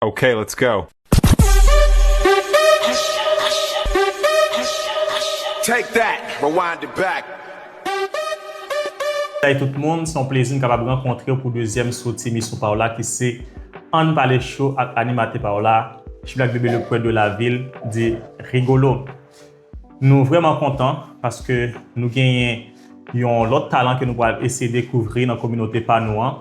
Ok let's go. Take that, rewind it back. Salut tout moun, se yon plezi m kapab rankontrew pou dezyèm soti emisyon paw la ki se Ann pale show ak animatè paw la, Chblak Bebe le poète de la ville dit Rigolo. Nou vrèman kontan paske nou genyen yon lòt talan ke nou pral eseye dekouvri nan kominote pa nou an.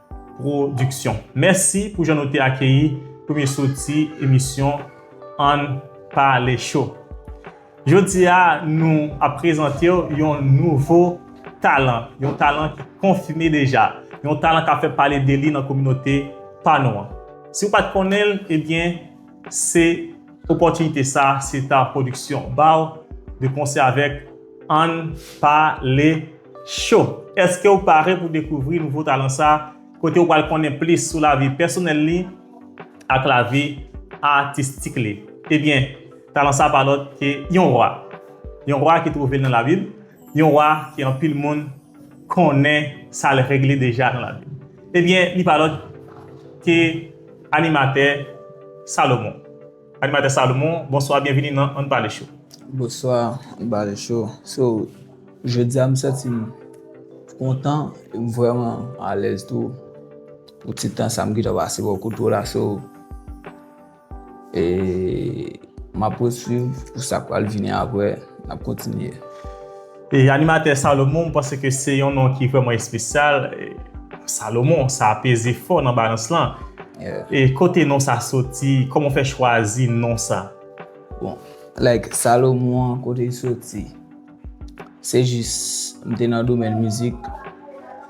Production. Mèsi pou jan nou te akeyi premye soti emisyon Ann Pale Cho. Jodi a nou ap prezante w yon nouvo talan, yon talan ki konfime deja, yon talan k ap fè pale de li nan kominote pa nou an. Si w pa t konnen l, ebyen se opòtinite sa Seta Production ba w de konsè avèk Ann pale cho! Èske ou pare pou dekouvri nouvo talan sa kote ou pral konnen plis sou lavi pèsonèl li ak lavi atistik li? Ebyen, talan sa pa lòt ke yon wa. Yon wa ki twouve l nan labib, yon wa ke anpil moun konnen sa l regle deja nan lavi. Ebyen, li pa lòt ke animatè Salomon. Animatè Salomon, bonswa byenvini nan Ann Pale Show. Bonswa Ann Pale Show. So, jodi a m santi m kontan e m vrèman alèz tou pou ti tan sa m gentan pase bò kote w la. So, e m ap pwoswiv pou sa k pral vini apre. N ap kontinye. E animatè Salomon m panse ke se yon non ki vrèman espesyal, Salomon sa peze fò nan balans lan. E kote non sa soti, kòman w fè chwazi non sa? Bon, like Salomon an kote l soti, se jis m te nan domèn mizik,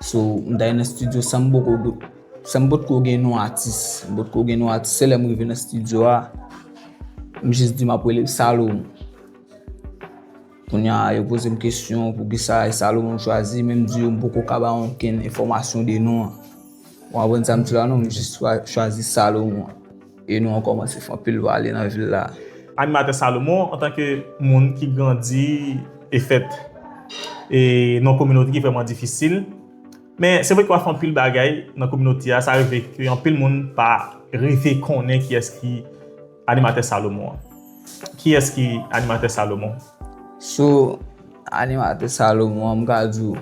so m t ale nan studio san m poko, san m potko gen non atis, m potko gen non atis, se lè m rive nan studio a, m jis di m ap rele l Salomon. Kounya yo pozem kesyon poukisa e Salomon m chwazi men m di yo m poko ka ba onkenn enfòmasyon de non an. Ou konprann sa m di la non m jis chwazi Salomon e non an kòmanse fè anpil pale nan vil la. Animatè Salomon antanke moun ki grandi e fèt nan yon kominote ki vrèman difisil men se vre ke wap fè anpil bagay nan kominote a sa rive ke anpil moun pa rive konnen kiyès ki Animatè Salomon an. Kiyès ki Animatè Salomon? So, Animatè Salomon an, m ka di w,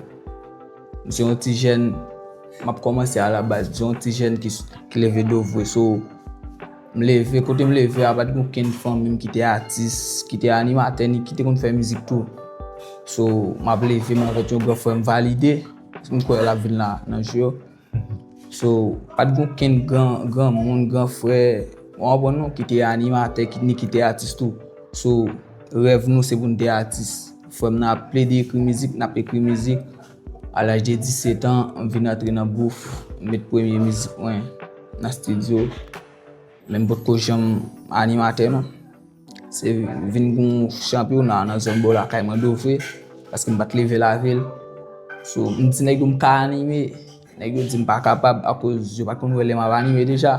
m se yon ti jèn, m ap kòmanse a la baz, m se yon ti jèn ki leve do vwe. So, m leve, kote m leve a pa t gen okenn fanmi m ki te atis, ki te animatè ni ki te konn fè mizik tou. So, m ap leve m avèk yon gran frè m Valide, m kwè l ap vin la nan jou yo. So, pa t gen okenn granmoun, gran frè, ou konprann non, ki te animatè, ni ki te atis tou. So, rèv nou se pou n te atis. Frè m nan ap plede ekri mizik, n ap ekri mizik. A laj de 17 an, m vin antre nan bouf, m met premye mizik mwen nan stidyo. Men m potko janm animatè non. Se vin pou yon chanpyona nan zòn bò lakay mwen dofre, paske m pa t leve lavil. So, m di nèg yo m ka anime, nèg yo di m pa kapab akoz yo pa t konn wè lè m ap anime deja.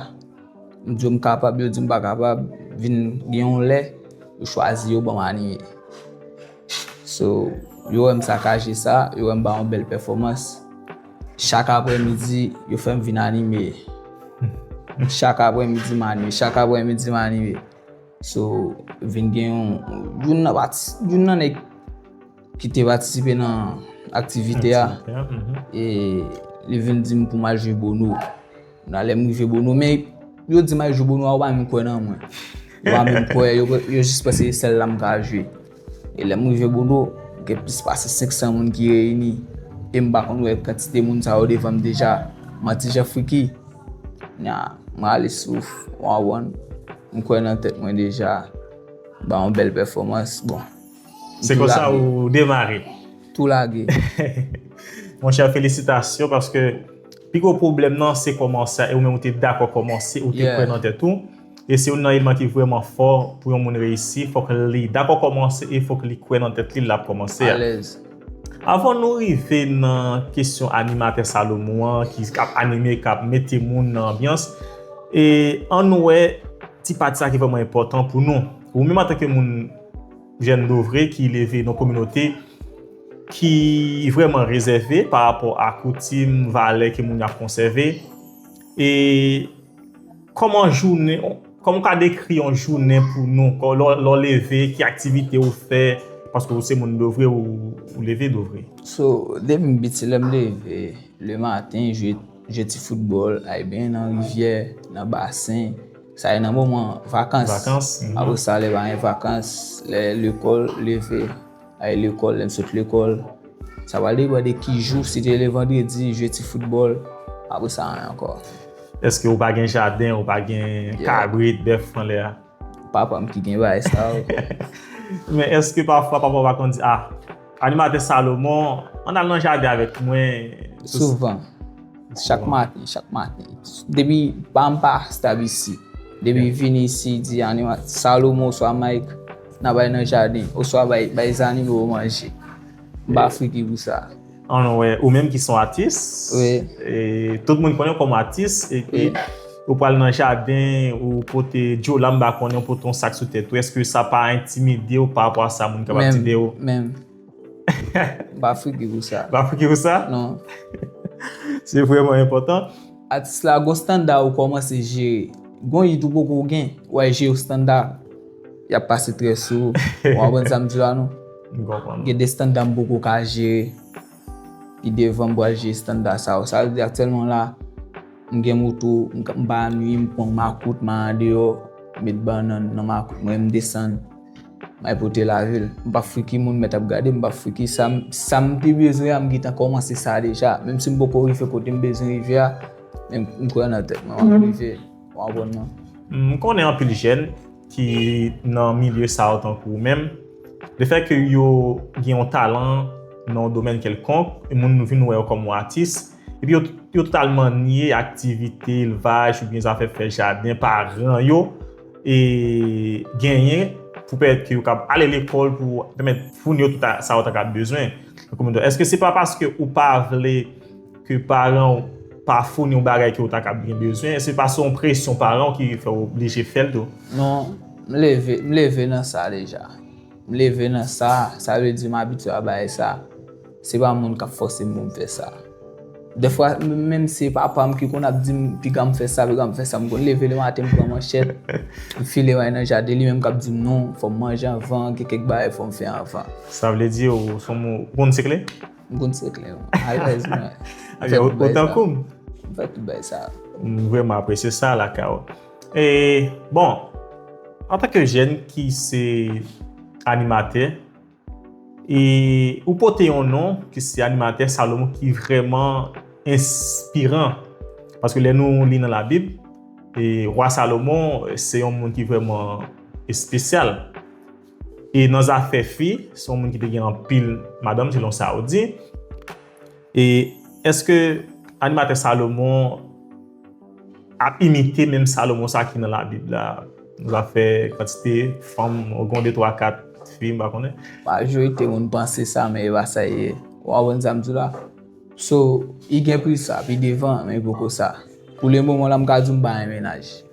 M di yo m kapab, yo di m pa kapab, vin gen yon lè, yo chwazi yo ban m anime. So, yo wè m sakaje sa, yo wè m bay yon bèl pèfòmans, chak aprè midi, yo fè m vin anime. Chak aprè midi m anime, chak aprè midi m anime. So, vin gen yon, youn nan pati, youn nan nèg ki te patisipe nan aktivite a, e li vin di m pou m al jwe Bono. Nan lè m rive Bono, men yo di m al jwe Bono a, yo pa menm kwè nan mwen. Yo pa menm kwè, yo jis panse se sèl la m ka jwe. E lè m rive Bodo, gen plis pase 500 moun ki reyini, e m pa konn wè kantite moun sa yo devan m deja. M an ti jan friki. Nya, m rale souf, w anwonn, m kwè nan tèt mwen deja, m bay yon bèl pèfòmans, bon, m tou lage. Se konsa ou demare? Tou lage. Monchè, felisitasyon, paske pi gwo pwoblèm nan se kòmanse a, e ou menm ou te dakò kòmanse, ou te kwè nan tèt ou. E se youn nan eleman ki vrèman fò pou yon moun reyisi, fòk li dakò kòmanse e fòk li kwè nan tèt li lè l ap kòmanse a. Avan nou rive nan kesyon animatè Salomon an ki ap anime, k ap mete moun nan anbyans, an nou wè ti pati sa ki vrèman enpòtan pou nou. Ou menm antanke moun jèn dovre ki leve nan kominote ki vrèman rezève parapò a koutim, valè ke moun yo ap konsève e Kòman jounen, kòman ou ka dekri yon jounen pou nou, lè w leve, ki aktivite ou fè, paske ou se moun Dovre, ou leve Dovre. So, depi m piti lè m leve, le maten, jwe ti foutbòl, ale benyen nan rivyè, nan basen, sa e nan moman vakans, apre sa lè pa gen vakans, lè lekòl, leve. Ay lekòl, lè n sot lekòl. Sa pral depann de ki jou, si te le vandredi, jwe ti foutbòl. Apre sa anyen ankò. Eske ou pa gen jaden, ou pa gen kabrit, bèf anlè a? Papa m ki gen bagay sa yo. Men eske pafwa papa w pa konn di, a, Animatè Salomon, ann al nan jaden avèk mwen? Souvan. Chak maten, chak maten. Depi pa m pa stab isi. Depi vini isi, di Animatè Salomon oswa Mike. Nan bay nan jaden, oswa bay zannimo yo manje. M pa friki pou sa. Anwe, ou menm ki son atis. Wi. E tout moun konnen w kòm atis. Wi. E pi, ou pral nan jaden, ou pote dyolanm, m pa konnen, ou pote yon sak sou tèt ou. Eske sa pa entimide w pa rapò a sa moun kapab di de ou? Menm, menm. Ba figi pou sa. Ba figi pou sa? Non. Se vreman enpotan. Atis la gon standa ou komanse jere. Gon yit ou poko gen, way je ou standa. Yap pase trè sou ou. Ou konprann sa m di la non? M konprann. Gen de standa m poko ka jere. Pi devan m pral jere standa sa ou. Sa vle di aktyèlman la, m gen moto, m pa annuiy m pran makout, m al andeyo, met bannan nan makout mwen m desann. May pote lavi l. M pa fwi ki moun mèt ap gade m, m pa fwi ki sa m. Sa m pi bezwen an m gentan kòmanse sa deja. Menm si m poko rive kote m bezwen rive a, men m kwè nan tèt mwen m ap rive. Ou konprann non? M konnen anpil jèn ki nan milye sa yo tankou ou menm, lefè ke yo gen yon talan nan yon domèn kèlkonk, moun vin wè yo kòm yon atis, epi yo totalman nye aktivite elvaj oubyen zafè fè jaden paran yo genyen pou pèmèt ke yo kab ale lekòl pou pèmèt founi yo tout sa yo ta kab bezwen. Eske se pa paske ou pa vle ke paran ou pa founi ou bagay ke ou ta kab gen bezwen? Eske se pa se yon presyon paran ou ki fè ou oblije fèl tou? Non, m leve nan sa deja. M leve nan sa, sa vle di m abitye a bagay sa. Se pa moun kap fòsem poum fè sa. Dèfwa menm se papam ki konn ap dim piganm fè sa piganm fè sa m konn leve le maten m pran manchèt m file way nan jaden li menm kap dim non fòm manje anvan gen kèk bagay fòm fè anvan. Sa vle di ou son moun ou konn sekle? M konn sekle wi alèz mwen. Ebyen ou tankoum. M fè tout bagay sa. M vrèman apresye sa lakay ou. E bon antanke jèn ki se animatè. E ou pote yon non ki se animatè Salomon ki vrèman enspiran. Paske lè nou li nan labib, e rwa Salomon se yon moun ki vrèman espesyal. E nan zafè fi, se yon moun ki te gen anpil madanm selon sa ou di. E eske animatè Salomon ap imite menm Salomon sa ki nan labib la nan zafè kantite fanm ou gen yon de twa kat fi m pa konnen. Majorite moun panse sa men e pa sa e ye. Ou konprann sa m di w la? So, i gen plis sa pi devan men poko sa. Pou le moman la m ka di w m pa yon menaj.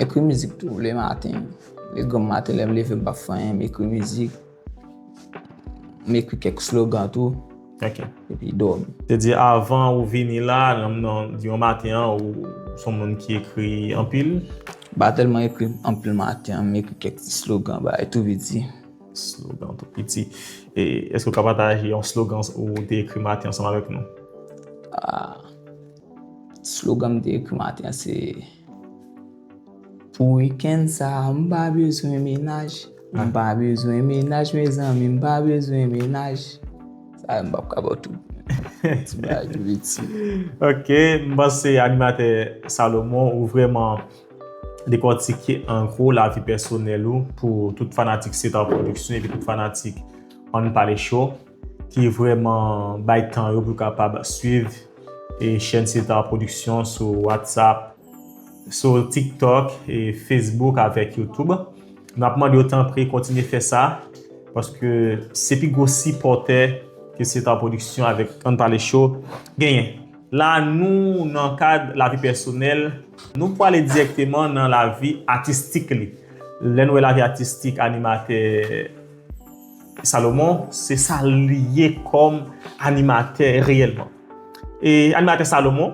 Ekri mizik tou le maten. Le granm maten lè m leve m pa p fè anyen m ekri mizik. M ekri kèk slogan tou. Ok. Epi dòmi. Se di avan ou vini la, di yon maten an ou son moun ki ekri anpil? M pa tèlman ekri anpil maten an. M ekri kèk ti slogan bagay tou piti. Slogan tou piti. E èske ou ka pataje yon slogan ou te ekri maten ansanm avèk nou? Ahh. Slogan m te ekri maten an se, Pou wikenn sa a m pa bezwen menaj, m pa bezwen menaj mezanmi, m pa bezwen menaj. Sa yo m p ap ka ba w tout. Ti bagay tou piti. Ok, m panse animatè Salomon ou vrèman dekòtike an gwo lavi pèsonèl ou pou tout fanatik Cesar Production epi tout fanatik Ann Pale Show. ki vrèman bay tan yo pou kapab swiv e chèn Star Production sou WhatsApp, sou TikTok, e Facebook avèk YouTube. N ap mande yo tanpri kontinye fè sa paske se pi gwo sipòtè ke Star Production avèk Ann Pale Show genyen. La a nou nan kad lavi pèsonèl, nou pwale dirèkteman nan lavi atistik li. Lè n wè lavi atistik animatè. Salomon se sa li ye kòm animatè reyèlman. E animatè Salomon,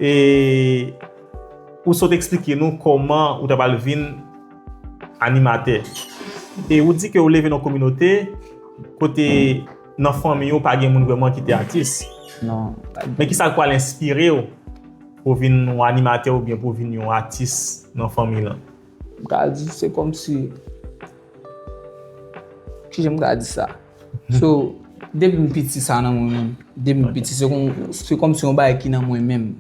e ou sot eksplike nou kòman ou ta pral vin animatè. E ou di ke ou leve nan kominote kote nan fanmi ou pa gen moun vreman ki te atis. Non. Men ki sa k pral enspire ou pou w vin yon animatè oubyen pou w vin yon atis nan fanmi lan? M ka di se kòm si, ki jan m ka di sa? So, depi m piti sa nan mwen menm. Depi m piti se kòm si yon bagay ki nan mwen menm.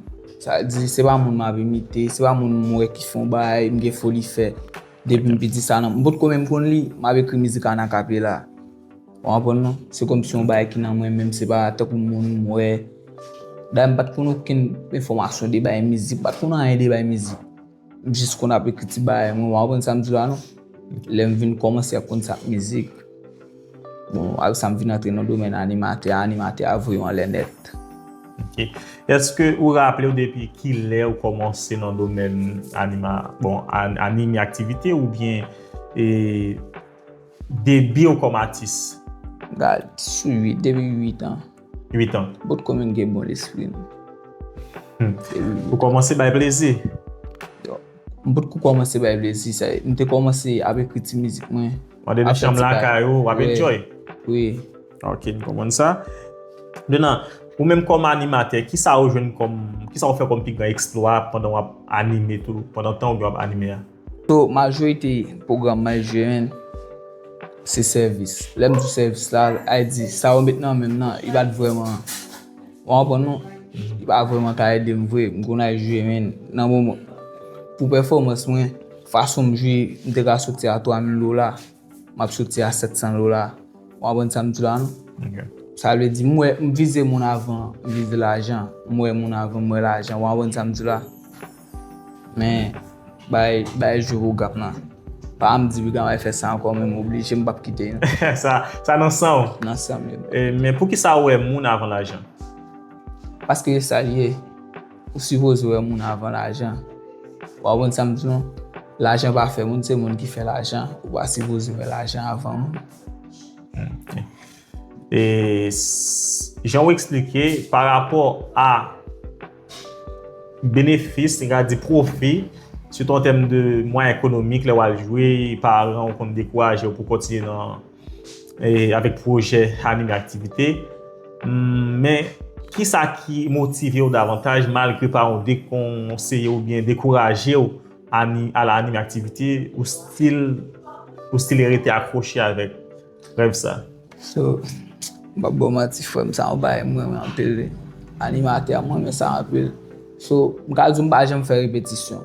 Sa vle di se pa moun m ap imite, se pa moun m wè ki fè yon bagay m gen foli fè. Depi m piti sa nan mwen. M potko menm konn li, m ap ekri mizik an akapela. Ou konprann non? Se kòm si yon bagay ki nan mwen menm, se pa tankou moun m wè. Dayè m pa t konn okenn enfòmasyon de bagay mizik, m pa t konn anyen de bagay mizik. M jis konn ap ekri ti bagay mwen, wa konprann sa m di w la non. Lè m vin kòmanse ap konn sa k mizik, bon ak sa m vin antre nan domèn animatè a, animatè a voye w anlè nèt. Ok. Eske ou raple w depi ki lè ou kòmanse nan domèn anima, bon anime aktivite oubyen e. Debiw kom atis. Gad sou 8 depi 8 an. 8 an. Bout komin gen bon lespri nou. Ou komanse bay plezi. M pot ko komanse bay plezi sa e. M te komanse ap ekri ti mizik mwen. Ou ande nan chanm lakay ou wap enjoy. Wi. Ok m konprann sa. Menan ou menm kom animatè kisa ou jwenn kom kisa ou fè kom pi gran eksplwa pandan wap anime tou pandan tan ou gen wap anime a. So majorite pwogram MyGN se sèvis. Lè m di sèvis la, ay di sa yo met nan men m nan, li pa t vrèman, ou anprann non, li pa vrèman ta ede m vre. M konn al jwe men nan moman pou pèfòmans mwen, fason m jwe, m te ka soti a 3000 dola. Map soti a 700 dola. Ou konprann sa m di la non? Sa vle di m wè, m vize moun avan m vize lajan. M wè moun avan m wè lajan. Ou konprann sa m di la? Men, bay, bay jwe pou gap lan. Pa m di Brigan Ray fè sa ankò men m oblije m pap kite non. Sa, sa nan san w? Nan san m li. Men poukisa ou wè moun avan lajan? Paske e sa l ye. Ou sipoze wè moun avan lajan. Ou konprann sa m di w? Lajan pa fè moun, se moun ki fè lajan. Ou pa sipoze wè lajan avan moun. E jan ou eksplike, pa rapò a benefis, n ka di pwofi, sitou an tèm de mwayen ekonomik lè w al jwe, paran ou konn dekouraje ou pou w kontinye nan. avèk pwojè anime aktivite, men ki sa ki motive ou davantaj malgre pa ou dekonseye ou byen dekouraje ou a la anime aktivite ou stil ou stil rete akwoche avèk rèv sa? So, m pap ba w manti frè m, sa yon bagay m renmen anpil wi. Animatè, m renmen sa anpil. So, m ka di w m pa janm fè repetisyon.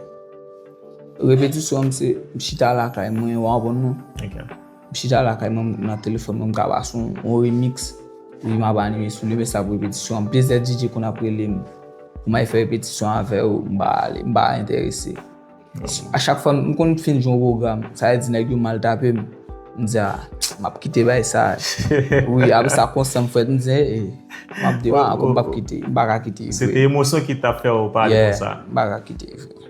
Repetisyon m se m chita lakay mwen, ou anprann non? Ok. M chita lakay mwen m nan telefòn mwen m ka pase yon remix wi m ap anime sou li men sa ap repetisyon anpil se DJ konn ap rele m pou m al fè repetisyon avè yo m pa ale m pa enterese a chak fwa m konn fin jwe yon pwogram sa vle di nèg yo mal tape m m di a m ap kite bagay sa wi apre sa konsyans m fèt m di e m ap devan ankò m p ap kite m pa ka kite se te emosyon ki t ap fè w pale konsa m pa ka kite.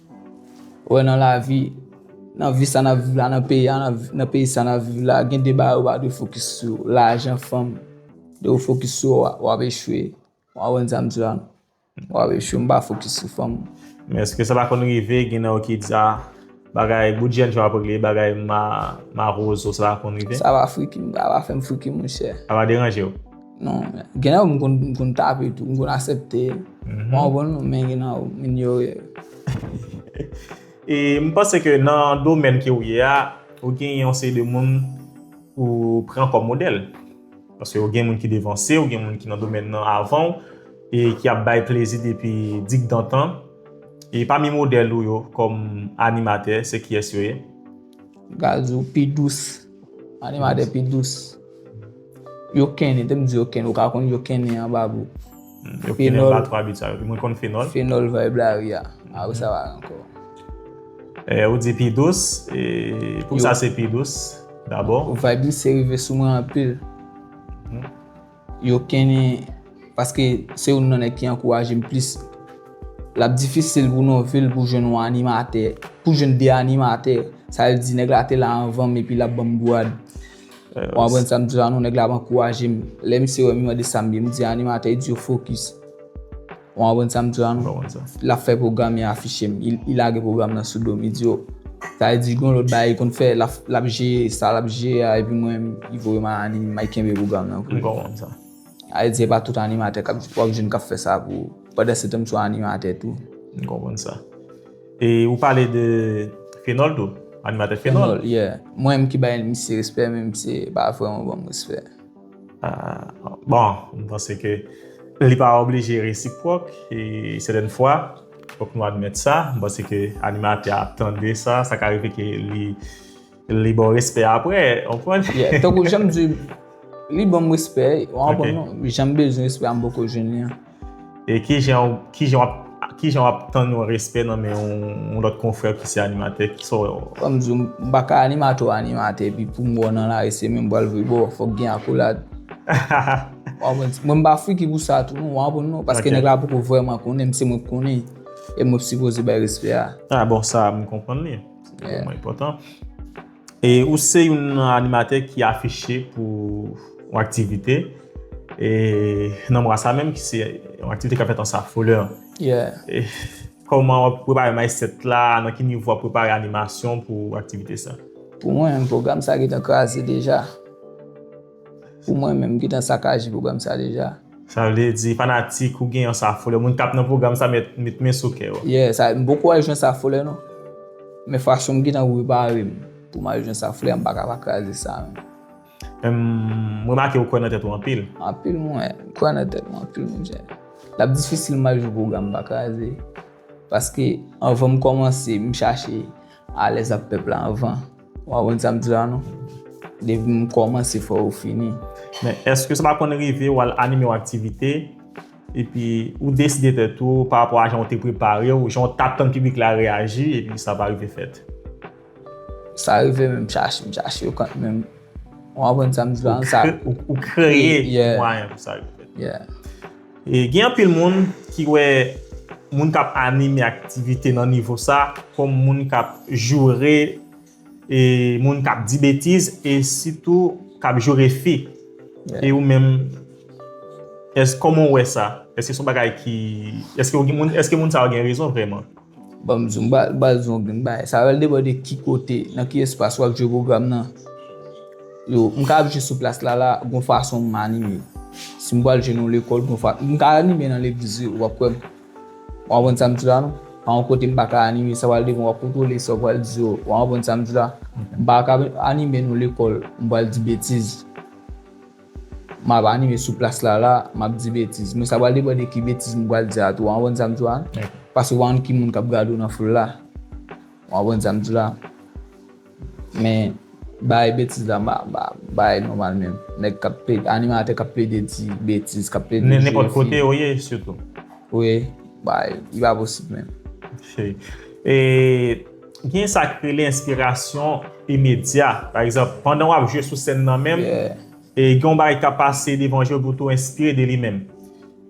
Wè nan lavi, nan vi sa nap viv la, nan peyi a, nan peyi sa nap viv la, gen de bagay ou pa dwe fokis sou yo, lajan, fanm, lè ou fokis sou yo wap echwe, wap konprann sa m di la, wap echwe, m pa fokis sou fanm. Men eske sa pa konn rive gen nan yo ki di a, bagay bout jèn jan wap regle, bagay marozo sa pa konn rive? Sa pa friki m, sa pa fè m friki monchè. Sa pa deranje w? Non, gen nan yo m konn, m konn tape tou, m konn asepte. M pa konprann nou men gen nan yo m inyore yo. E m panse ke nan domèn ke ou ye a, ou gen yon seri de moun ou pran kòm modèl. Paske ou gen moun ki devanse ou, gen moun ki nan domèn nan avan ou, e ki ap bay plezi depi dikdantan. E pami modèl ou yo kòm animatè, se kiyès yo ye? M ka di w pi dous, animatè pi dous. Yo kennen, tem di yo kennen, ou ka konn yo kennen an babou. Yo kennen ba 3 bit sa yo, mwen konn fenol. Fenol vibe la ri a, a ou sa va anko. E ou di pi dous, e pou sa se pi dous, dabo. Ou vibe li se rive sou mwen anpil. Yo kennen, paske se ou nan nèk ki anko a jem plis. Lap difisil pou nou vil pou jen ou animate, pou jen de animate. Sa li di nèk la te la anvan, mepi lap banm gwa. Ou aprann sa m di la non, nèg la ap ankouraje m. Lè misye wè m li mande sa m ye, m di animatè e di yo fokis. Ou aprann sa m di la non, l ap fè pwogram e afiche m. Li lage pwogram nan sou do m, li di yo, sa vle di gon lòt bagay li konn fè, l ap jeye sa l ap jeye a epi mwen li voye m al anime, m al kenbe pwogram nan pou li. M konprann sa. Sa vle di se pa tout animatè k ap, w ap jwenn k ap fè sa pou ou. Pandansetan m sou animatè tou. M konprann sa. E ou pale de Fenol tou, animatè Fenol. Fenol, yeah. Mwen menm ki bay misye respè men misye pa vrèman banm respè. Bon, m panse ke li pa oblije resipròk e sèten fwa, fòk nou admèt sa, m panse ke animatè a ap tande sa, sa ka rive ke li. Li baw respè apre, ou konprann? Yeah, tankou janm di, li banm respè, ou anprann non? Ok. Janm bezwen respè a m poko jwenn li an. E kijan ou, kijan wap, kijan wap tann yon respè nan men yon lòt konfrè ki se animatè? Kisa w wè w. Kòm m di w, m pa ka animatè w animatè epi pou m wè w nan lari se menm bra l vre bo, fòk gen akolad. Ou anprann? Mwen m pa friki pou sa tou non, ou anprann non? Ok. Paske nèg la poko vrèman konnen m, se mwen k konnen, e mwen k sipoze bay respè a. Ah bon, sa a m konprann li. Mwen potan. E ou se yon animatè ki afiche pou yon aktivite. E nan mwa sa menm ki se yon aktivite ka fèt an sa foule. E kouman wap prepare may set la, nan ki nivou wap prepare animasyon pou aktivite sa? Pou mwen, program sa getan kraze deja. Pou mwen menm, m gentan sakaje pwogram sa deja. Sa vle di, fanatik ou gen yon Sa Folle, moun kap nan pwogram sa met men sou kè yo. Yeah, sa, m poko al jwenn Sa Folle non. Men fason m gentan prepare m pou m al jwenn Sa Folle a, m paka pa kraze sa menm. M remake ou kwè nan tèt ou anpil. Anpil mwen kwè nan tèt mwen anpil menm jan. Lap difisil m al jwenn pwogram m pa kraze. Paske anvan m kòmanse, m chache alèz ak pèp la anvan. Ou konprann sa m di la non. Depi m kòmanse fò ou fini. Men èske sa pa konn rive ou al anime yon aktivite epi ou deside tèt ou pa rapò a jan ou te prepare ou, jan ou tap tann piblik la reyaji epi sa pa rive fèt? Sa rive men m chache, m chache yo kont menm. Ou konprann sa m di la? Ou kreye mwayen pou sa rive fèt. Yeah. Gen anpil moun ki wè moun k ap anime aktivite nan nivo sa kòm moun k ap joure, moun k ap di betiz e sitou k ap joure fi. E ou menm, kòman ou wè sa? Èske se yon bagay ki, èske moun sa yo gen rezon vrèman? Banm zoom bal zoom ok m bay sa rèl depan de ki kote nan ki espas wap jwe pwogram nan yo m ka ap jwe sou plas la la gon fason m anime si m pral jwe nan yon lekòl gon fa m ka anime nan legliz wi wap kwè m ou konprann sa m di la non pa yon kote m pa ka anime sa pral devan wap kontwole sa w pral di yo ou konprann sa m di la m pa ka anime nan yon lekòl m pral di betiz. Map anime sou plas la la map di betiz men sa pral depan de ki betiz m pral di a tou ou konprann sa m di w la paske ou pa konn ki moun kap gade w nan foul la ou konprann sa m di w la men bagay betiz la m pa m pa bay nòmal menm nèg kap plede animatè kap plede di betiz kap plede jwe fi nenpòt kote yo ye sitou wi bagay li pa posib menm e. Gen sa k rele enspirasyon imedya. Pa egzanp, pandan w ap jwe sou sèn nan menm, gen yon bagay k ap pase devan je w epi w tou enspire de li menm.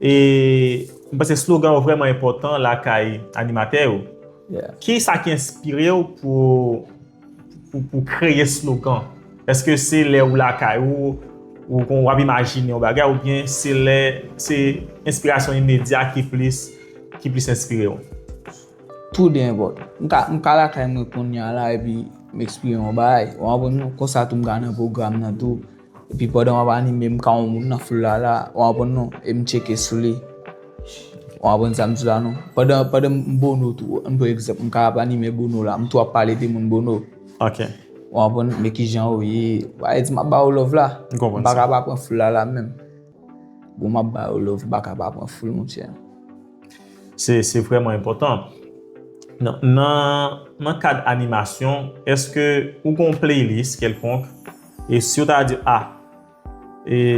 E m panse slogan yo vrèman enpòtan lakay animatè yo. Ki sa ki enspire w pou kreye slogan? Èske se lè ou lakay ou, ou ap imajine yon bagay oubyen se enspirasyon imedya ki plis enspire w? Tou 2 enpòtan. M ka lakay mwen konnya la epi m eksprime yon bagay. Ou anprann non? Konsa tou m ka nan pwogram nan tou. Epi pandan m ap anime m ka wè yon moun nan foul la la. Ou anprann non? E m tcheke sou li. Ou anprann sa m di la non? Pandan m Bono tou. Ann pran egzanp. M ka ap anime Bono la. M tou ap pale de moun Bono. Ok. Ou anprann? Men kijan ou ye. Ou pa vle di m ap ba ou love la. M konprann sa. M pa ka pa pran foul la la menm. Bon map ba yo love baka pa pran foul monchè. Se vrèman enpòtan. Nan kad animasyon, eske ou gon playlist kelkonk? E si yo ta di a,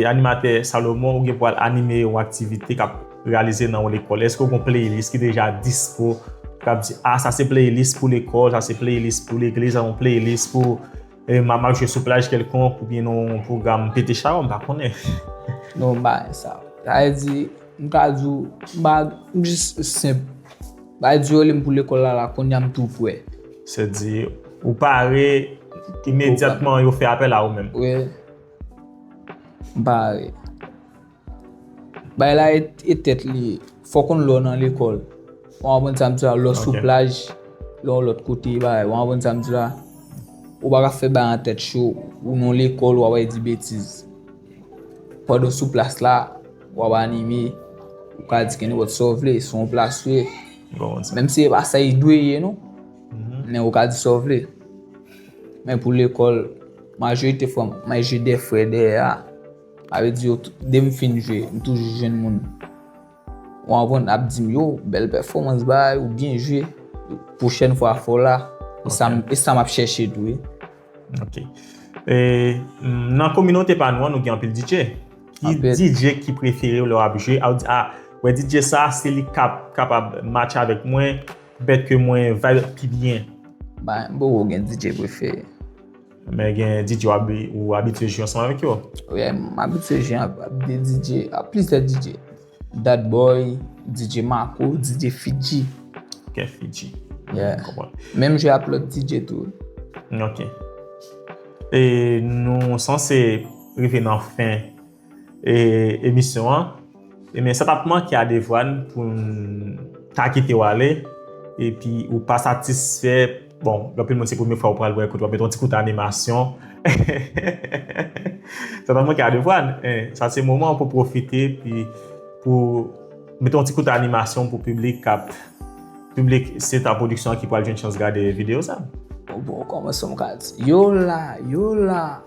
animatè Salomon ou gen pou al anime yon aktivite kap realize nan yon lekòl, eske ou gon playlist ki deja dispo? Kap di a, sa se playlist pou lekòl, sa se playlist pou legliz, sa se yon playlist pou. Mama ap jwe sou plaj kèlkonk oubyen nan yon pwogram pete chawonm, m pa konnen. Non m pa wè sa. Sa vle di, m ka di w, m pa, m jis senp. Bay di yo rele m pou lekòl la la, kounye a m tou prè. Se di, ou pare imedyatman yo fè apèl a ou menm? Wi. M pare. Bay la e tèt li. Fò konn lò nan lekòl. Ou anpwen sa m di la, lò sou plaj, lò lòt kote bagay. Ou anpwen sa m di la? Ou pa ka fè bagay an tèt cho, ou nan lekòl wap al di betiz. Pandan sou plas la, wap anime, ou ka di kenn wòt sa w vle, se yon plas ou ye. Menm si e pa sa e dwe ye non. Men ou ka di sa w vle. Men pou lekòl, majorite fwa, mwen jwe de frè dèyè a. Sa vle di yo dem fin jwe m toujou jwenn moun ou anvan ap dim yo bèl pèfòmans bby ou byen jwe pwochèn fwa fò la e sa map chèche tou wi. Ok nan kominote pa nou an nou gen anpil DJ ki DJ ki preferew lè wap jwe a ou di a wè DJ sa se li kap kapab match avèk mwen bèt ke mwen vibe pi byen. Bon mwen gen DJ prefere. Men gen DJ ou abitye jwe ansanm avèk yo? Wi, m abitye jwe ak plizyè DJ. Dat Boy, DJ Mako, DJ Fidji. Ok, Fidji. Menm jwe ak lòt DJ tou. Ok. E nou sanse rive nan fen. emisyon an ebyen sa tap manke a Devwàn poun ta kitew ale epi ou pa satisfè bon anpil moun se premye fwa ou pral wè kote wap met yon ti kout animasyon ehehehe sa tap manke a Devwàn sa se moman pou pwofite epi pou met yon ti kout animasyon pou piblik kap piblik se ta pwodiksyon ki pral jwenn chans gade videyo sa. Bon bon koman som ka di yo la yo la.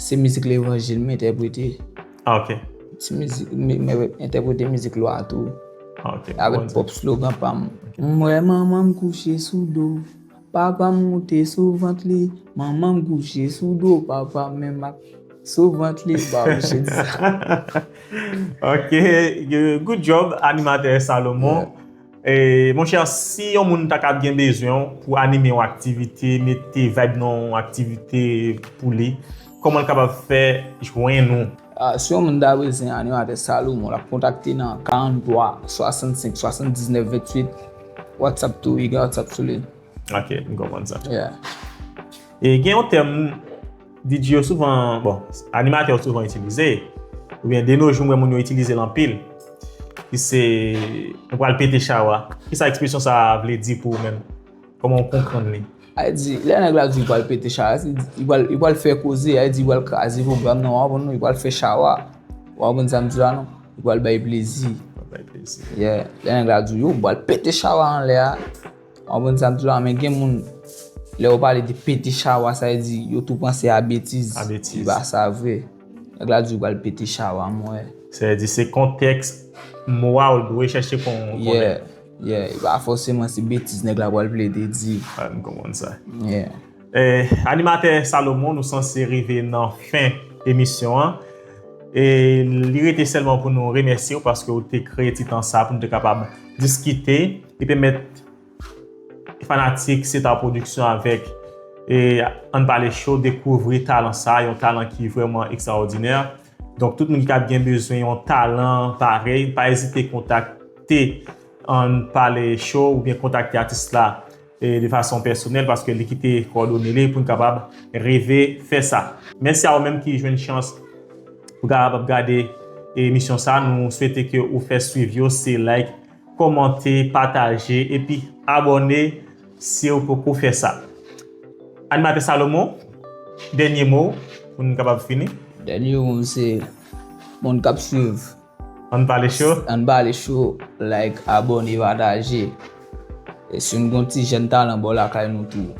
Se mizik levanjil mwen entèprete. Ah ok. Se mizik mwen entèprete mizik lwa tou. Ah ok. Avèk pwòp slogan pa m. M wè manman m kouche sou do. Papa m moute sou vant li. Manman m kouche sou do. Papa m menm ak sou vant li. Ba ou che di sa. Ok. Good job animatè Salomon. Mon cher si yon moun ta ka gen bezwen w pou anime yon aktivite, mete vibe nan yon aktivite pou li, koman l kapab fè jwenn ou? Si yon moun ta bezwen Animatè Salomon l ap kontakte nan 43 65 79 28 Whatsapp tou wi gen Whatsapp sou li. Ok, m konprann sa. Yeah. E gen yon tèm. DJ yo souvan, bon, animatè yo souvan itilize, oubyen de no jou m wè moun yo itilize l anpil, ki se, mwen pral pete chawa. Ki sa ekspresyon sa a vle di pou ou menm? Kòman ou konprann li? A di, lè nèg la di li pral pete chawa, se di, li pral fè koze, a di li pral kraze pwogram nan, ou pa konprann non? Li pral fè chawa. Ou pa konprann sa m di la non? Li pral bay plezi. Li pral bay plezi. Yeah. Lè nèg la di ou, yo, m pral pete chawa anlè a. Ou konprann sa m di la, men gen moun lè yo pale de pete chawa sa yo di yo tou panse a betiz. A betiz. Se pa sa vre. Nèg la di ou pral pete chawa m wè. Sa vle di se kontèks mo a ou dwe chèche konnen. Yeah, yeah. E pa fòseman se betiz nèg la pral plede di. M konprann sa. Yeah. Animatè Salomon nou sanse rive nan fen emisyon an e li rete sèlman pou nou remèsye ou paske ou te kreye ti tan sa pou nou te kapab diskite e pèmèt fanatik Star Production avèk Ann Pale Show dekouvri talan sa, yon talan ki vrèman ekstraòdinè. Donk tout moun ki ta gen bezwen yon talan parèy pa ezite kontakte Ann Pale Show oubyen kontakte atis la. de fason pèsonèl paske li kite kòdone li pou n kapab rive fè sa. Mèsi a ou menm ki jwenn chans pou kapab gade emisyon sa nou swete ke ou fè swiv yo se like kòmante pataje epi abòne siw poko fè sa Animatè Salomon dènye mo w pou n kapab fini. Dènye mo m se moun kap swiv. Ann pale cho. Ann pale cho like abone pataje e si nou gon ti jèn talan bò lakay nou tou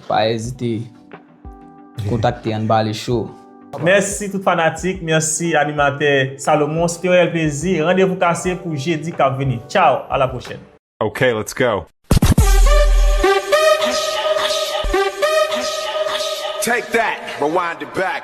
pa ezite kontakte ann pale cho. Mèsi tout fanatik, mèsi animatè Salomon, se te yon rèl plezi, randevou kase pou jedi kap vini. Tchaw, a la pwochèn. Ok let's go. Take that, rewind it back.